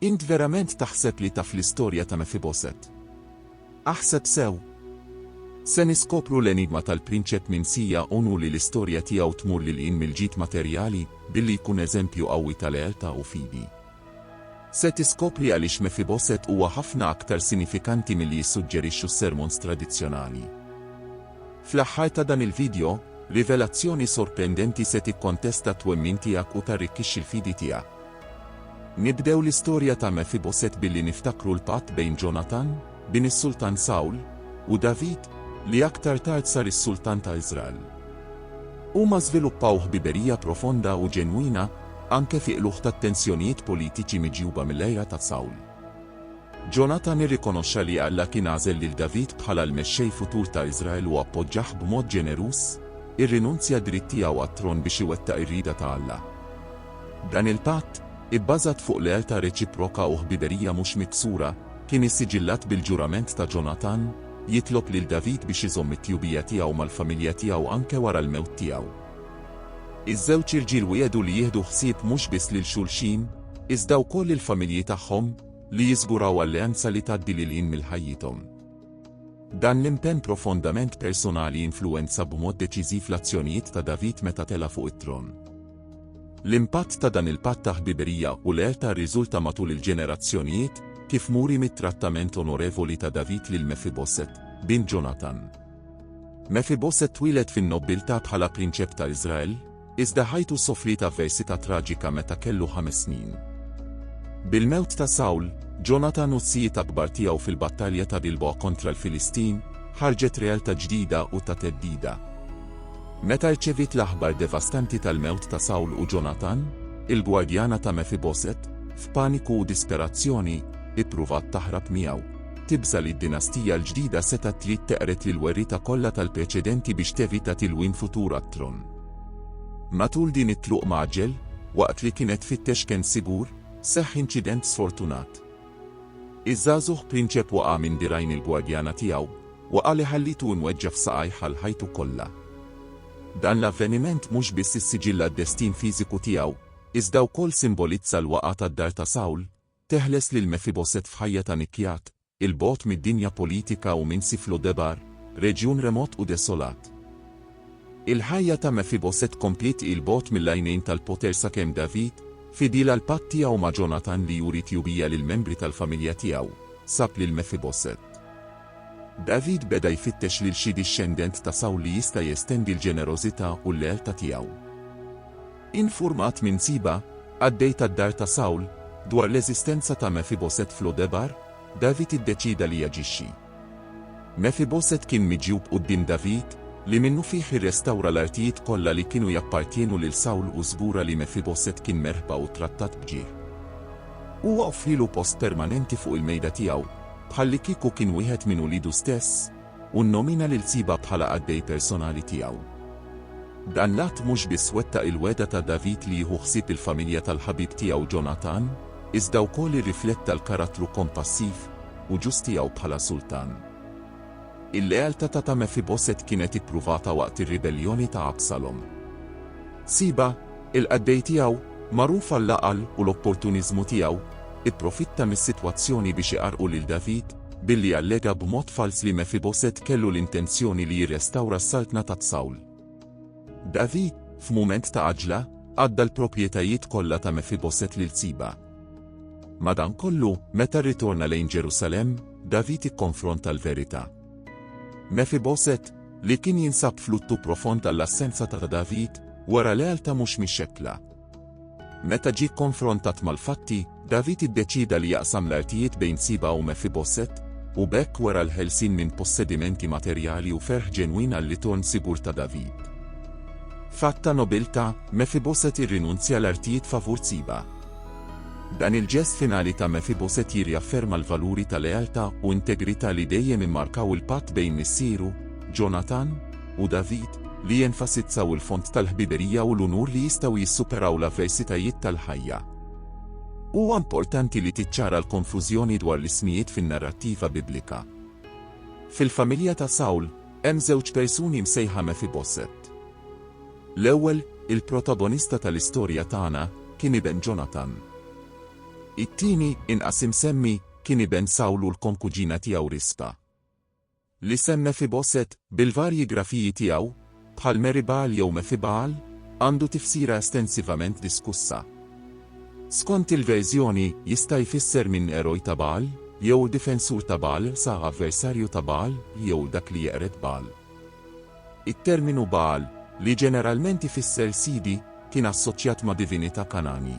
Int verament taħseb li taf l-istorja ta' Mefiboset? Aħseb sew! Se niskopru l-enigma tal-prinċep minsija u nuri li l-istorja tiegħu tmur lil hinn mill-ġid materjali billi jkun eżempju qawwi ta' lealtà u fidi. Se tiskopri għaliex Mefiboset huwa ħafna aktar sinifikanti milli jissuġġerixxu s-sermons tradizzjonali. Fl-aħħar ta' dan il-vidjo, rivelazzjoni sorprendenti se tikkontesta t-twemmin tiegħek u tarrikkixxi l-fidi tiegħek. Nibdew l-istorja ta' Mefiboset billi niftakru l-patt bejn Ġonatan, bin is-Sultan Sawl, u David, li aktar tard sar is-Sultan ta' Iżrael. Huma żviluppaw ħbiberija profonda u ġenwina, anke fi qlugħ tat-tensjonijiet politiċi miġjuba mill-għira ta' Sawl. Ġonatan irrikonoxxa li Alla kien għażel lil David bħala l-mexxej futur ta' Iżrael u appoġġah b'mod ġeneruż, irrinunzja d-dritt tiegħu għat-tron biex iwettaq ir-rieda ta' Alla. Dan il-patt, ibbażat fuq lealtà reċiproka u ħbiberija mhux miksura, kien issiġillat bil-ġurament ta' Ġonatan, jitlob lil David biex iżomm it-tjubija tiegħu mal-familja tiegħu anke wara l-mewt tiegħu. Iż-żewġ irġiel wiegħdu li jieħdu ħsieb mhux biss lil xulxin, iżda wkoll il-familji tagħhom, li jiżguraw alleanza li tgħaddi lil hinn mill-ħajjithom. Dan l-impenn profondament personali influwenza b'mod deċiżiv l-azzjonijiet ta' David meta tela' fuq it-tron. L-impatt ta' dan il-patt ta' ħbiberija u lealtà rriżulta matul il-ġenerazzjonijiet, kif muri mit-trattament onorevoli ta' David lil Mefiboset, bin Ġonatan. Mefiboset twieled fin-nobbiltà bħala prinċep ta' Iżrael, iżda ħajtu sofriet avversità traġika meta kellu ħames snin. Bil-mewt ta' Sawl, Ġonatan u s-sijiet akbar tiegħu fil-battalja ta' Gilboa kontra l-Filistin, ħarġet realtà ġdida u ta' theddida. Meta rċeviet l-aħbar devastanti tal-mewt ta' Sawl u Ġonatan, il-gwardjana ta' Mefiboset, f'paniku u disperazzjoni, ippruvat taħrab miegħu. Tibża' li d-dinastija l-ġdida setgħet trid teqred lill-werrieta kollha tal-preċedenti biex tevita tilwim futur għat-tron. Matul din it-tluq mgħaġġel, waqt li kienet tfittex kenn sigur, seħħ inċident sfortunat. Iż-żagħżugħ prinċep waqa' minn dirgħajn il-gwardjana tiegħu, waqgħa li ħallitu imweġġa' f'saqajh għal ħajtu kollha. Dan l-avveniment mhux biss issiġilla d-destin fiżiku tiegħu, iżda wkoll simbolizza l-waqgħa tad-dar ta' Sawl, teħles lil Mefiboset f'ħajja ta' nikjat, 'il bogħod mid-dinja politika u minn Sif Lo Debar, reġjun remot u desolat. Il-ħajja ta' Mefiboset kompliet 'il bogħod mill-għajnejn tal-poter sakemm David, fidil għall-patt tiegħu ma' Ġonatan li juri tjubija lill-membri tal-familja tiegħu, sab lil Mefiboset. David beda jfittex lil xi dixxendent ta' Sawl li jista' jestendi l-ġenerożità u l-lealtà tiegħu. Infurmat minn Siba, qaddej tad-dar ta' Sawl, dwar l-eżistenza ta' Mefiboset f'Lo Debar, David iddeċieda li jaġixxi. Mefiboset kien miġjub quddiem David, li minnufih irrestawra l-artijiet kollha li kienu jappartjenu lil Sawl u żgura li Mefiboset kien merħba u ttrattat b'ġieħ. Huwa offrielu post permanenti fuq il-mejda tiegħu, bħallikieku kien wieħed minn uliedu stess, u nnomina lil Siba bħala qaddej personali tiegħu. Dan l-att mhux biss wettaq il-wegħda ta' David li jieħu ħsieb il-familja tal-ħabib tiegħu Ġonatan, iżda wkoll irrifletta l-karattru kompassiv, u ġust tiegħu bħala sultan. Il-lealtà ta' ta' Mefiboset kienet ippruvata waqt ir-ribelljoni ta' Absalom. Siba, il-qaddej tiegħu, magħruf għall-għaqal u l-opportuniżmu tiegħu, ipprofitta mis-sitwazzjoni biex iqarrqu lil David billi allega b'mod falz li Mefiboset kellu l-intenzjoni li jirrestawra s-saltna ta' Sawl. David, f'mument ta' għaġla, għadda l-proprjetajiet kollha ta' Mefiboset lil Siba. Madankollu, meta rritorna lejn Ġerusalemm, David ikkonfronta l-verità. Mefiboset, li kien jinsab fluttu profond għall-assenza ta' David, wara lealtà mhux mixekkla. Meta ġie kkonfrontat mal-fatti, David iddeċieda li jaqsam l-artijiet bejn Siba u Mefiboset, u b'hekk wera l-ħelsien minn possedimenti materjali u ferħ ġenwin għar-ritorn sigur ta' David. F'att ta' nobiltà, Mefiboset irrinunzja l-artijiet favur Siba. Dan il-ġest finali ta' Mefiboset jirriafferma l-valuri ta' lealtà u integrità li dejjem immarkaw il-patt bejn missieru, Ġonatan, u David, li jenfasizzaw il-fond tal-ħbiberija u l-unur li jistgħu jissuperaw l-avversitajiet tal-ħajja. Huwa importanti li tiċċara l-konfużjoni dwar l-ismijiet fin-narrattiva Biblika. Fil-familja ta' Sawl, hemm żewġ persuni msejħa Mefiboset. L-ewwel, il-protagonista tal-istorja tagħna kien iben Ġonatan. It-tieni, inqas imsemmi, kien iben Sawl u l-konkuġina tiegħu Rispa. L-isem Mefiboset, bil-varji grafiji tiegħu, bħal Meribal jew Mefibal, għandu tifsira estensivament diskussa. Skont il-verżjoni, jista' jfisser minn eroj ta' Bagħal, jew difensur ta' Bagħal sa avversarju ta' Bagħal, jew dak li jeqred Bagħal. It-terminu Bagħal, li ġeneralment ifisser Sidi, kien assoċjat ma' divinità Kanani.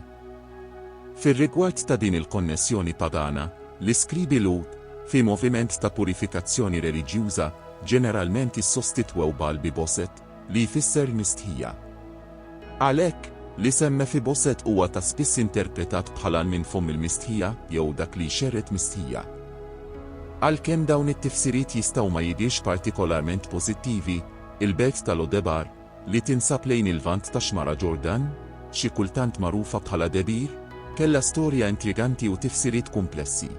Fir-rigward ta' din il-konnessjoni pagana, l-iskribi Lhud, fi moviment ta' purifikazzjoni reliġjuża, ġeneralment issostitwew Bagħal bi Boset, li jfisser mistħija. Għalhekk, l-isem Mefiboset huwa ta' spiss interpretat bħala l-minn fomm il-mistħija jew dak li jxerred mistħija. Għalkemm dawn it-tifsiriet jistgħu ma jidhirx partikolarment pożittivi, il-belt ta' Lo-debar, li tinsab lejn il-Lvant tax-Xmara Ġordan, xi kultant magħrufa bħala Debir, kellha storja intriganti u tifsiriet kumplessi.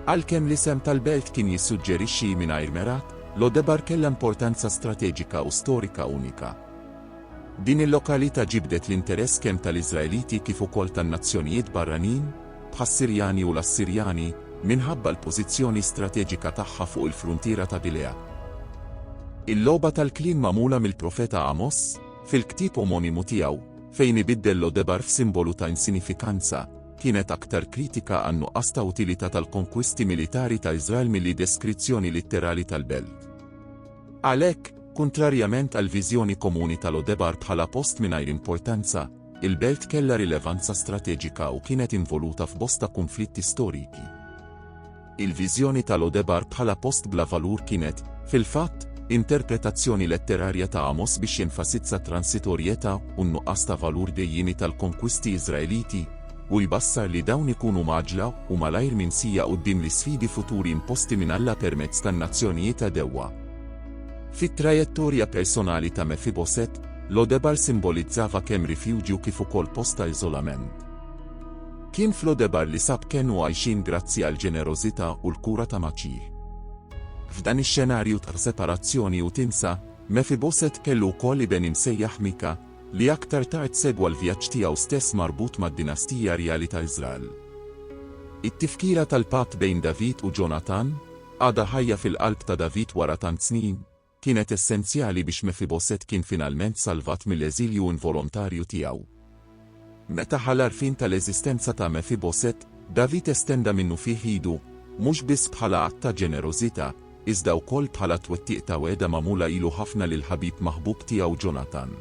Għalkemm l-isem tal-belt kien jissuġġerixxi, mingħajr merat, Lo-debar kellha importanza strateġika u storika unika. Din il-lokalità ġibdet l-interess kemm tal-Iżraeliti kif ukoll tan-nazzjonijiet barranin, bħas-Sirjani u l-Assirjani, minħabba l-pożizzjoni strateġika tagħha fuq il-fruntiera ta' Gilea. Il-logħba tal-kliem magħmula mill-profeta Għamos, fil-ktieb omonimu tiegħu, fejn ibiddel Lo Debar f'simbolu ta' insinifikanza, kienet aktar kritika għan-nuqqas ta' utilità tal-konkwisti militari ta' Iżrael milli deskrizzjoni litterali tal-belt. Għalhekk, kuntrarjament għall-viżjoni komuni ta' Lodebar bħala post mingħajr importanza, il-belt kellha rilevanza strateġika u kienet involuta f'bosta kunflitti storiki. Il-viżjoni ta' Lodebar bħala post bla valur kienet, fil-fatt, interpretazzjoni letterarja ta' Amos biex jenfasizza t-transitorjetà u n-nuqqas ta' valur dejjiemi tal-konkwisti Iżraeliti, u jbassar li dawn ikunu mgħaġġla u malajr minsija quddiem l-isfidi futuri imposti minn Alla permezz tan-nazzjonijiet għadewwa. Fit-trajettorja personali ta' Mefiboset, Lodebar simbolizzava kemm rifjuġju kif ukoll post ta' iżolament. Kien f'Lodebar li sab kenn u għajxien grazzi għall-ġenerożità u l-kura ta' Maċir. F'dan ix-xenarju ta' separazzjoni u tinsa, Mefiboset kellu wkoll iben imsejjaħ Mika, li aktar tard segwa l-vjaġġ tiegħu stess marbut mad-dinastija rjali ta' Iżrael. It-tifkira tal-patt bejn David u Ġonatan, għadha ħajja fil-qalb ta' David wara tant snin, kienet essenzjali biex Mefiboset kien finalment salvat mill-eżilju involontarju tiegħu. Meta ħa l-għarfien tal-eżistenza ta' Mefiboset, David estenda minnufih idu, mhux biss bħala att ta' ġenerożità, iżda wkoll bħala twettiq ta' wegħda magħmula ilu ħafna lill-ħabib maħbub tiegħu Ġonatan.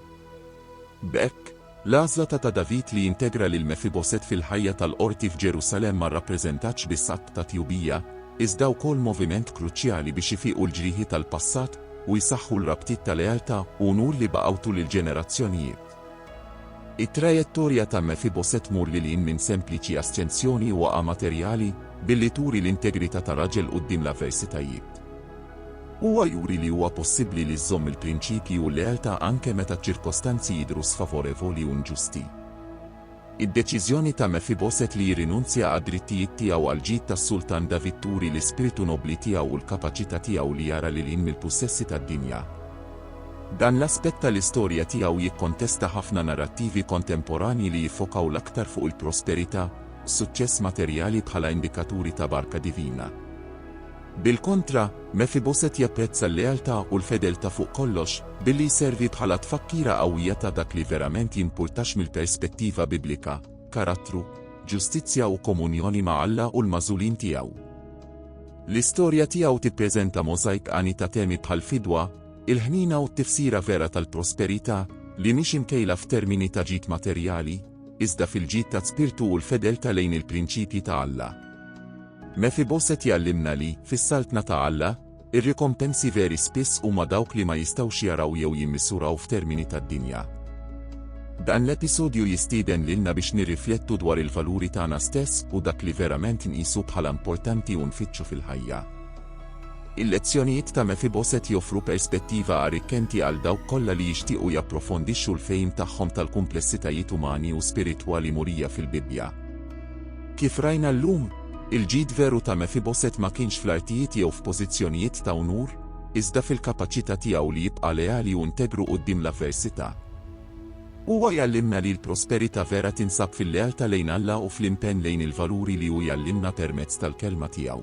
B'hekk, l-għażla ta' ta' David li jintegra lil Mefiboset fil-ħajja tal-qorti f'Ġerusalemm ma rrappreżentatx biss att ta' tjubija, iżda wkoll moviment kruċjali biex ifiqu l-ġrieħi tal-passat u jsaħħu l-rabtiet ta' lealtà u unur li baqgħu tul il-ġenerazzjonijiet. It-trajettorja ta' Mefiboset tmur lil hinn minn sempliċi asċensjoni u waqgħa materjali, billi turi l-integrità ta' raġel quddiem l-avversitajiet. Huwa juri li huwa possibbli li żżomm il-prinċipji u l-lealtà anke meta ċ-ċirkostanzi jidhru sfavorevoli u nġusti. Id-deċiżjoni ta' Mefiboset li jirrinunzja għad-drittijiet tiegħu għall-ġid tas-Sultan David turi l-ispirtu nobbli tiegħu u l-kapaċità tiegħu li jara lil hinn mill-pussessi tad-dinja. Dan l-aspett tal-istorja tiegħu jikkontesta ħafna narrattivi kontemporanji li jiffokaw l-aktar fuq il-prosperità u s-suċċess materjali bħala indikaturi ta' barka divina. Bil-kontra, Mefiboset japprezza l-lealtà u l-fedeltà fuq kollox, billi jservi bħala tfakkira qawwija ta' dak li verament jimpurtax mill-perspettiva Biblika, karattru, ġustizzja u komunjoni ma' Alla u l-magħżulin tiegħu. L-istorja tiegħu tippreżenta możajk għani ta' temi bħall-fidwa, il-ħniena u t-tifsira vera tal-prosperità, li mhix imkejla f'termini ta' ġid materjali, iżda fil-ġid taz-spirtu u l-fedeltà lejn il-prinċipji ta' Alla. Mefiboset jgħallimna li, fis-Saltna ta' Alla, ir-rikompensi veri spiss huma dawk li ma jistgħux jaraw jew jimmisuraw f'termini tad-dinja. Dan l-episodju jistieden lilna biex nirriflettu dwar il-valuri tagħna stess u dak li verament nqisu bħala importanti u nfittxu fil-ħajja. Il-lezzjonijiet ta' Mefiboset joffru perspettiva arrikkenti għal dawk kollha li jixtiequ japprofondixxu l-fehim tagħhom tal-kumplessitajiet umani u spiritwali murija fil-Bibbja. Kif rajna llum, il-ġid veru ta' Mefiboset ma kienx fl-artijiet jew f'pożizzjonijiet ta' unur, iżda fil-kapaċità tiegħu li jibqa' leali u integru quddiem l-avversità. Huwa jgħallimna li l-prosperità vera tinsab fil-lealtà lejn Alla u fl-impenn lejn il-valuri li hu jgħallimna permezz tal-Kelma tiegħu.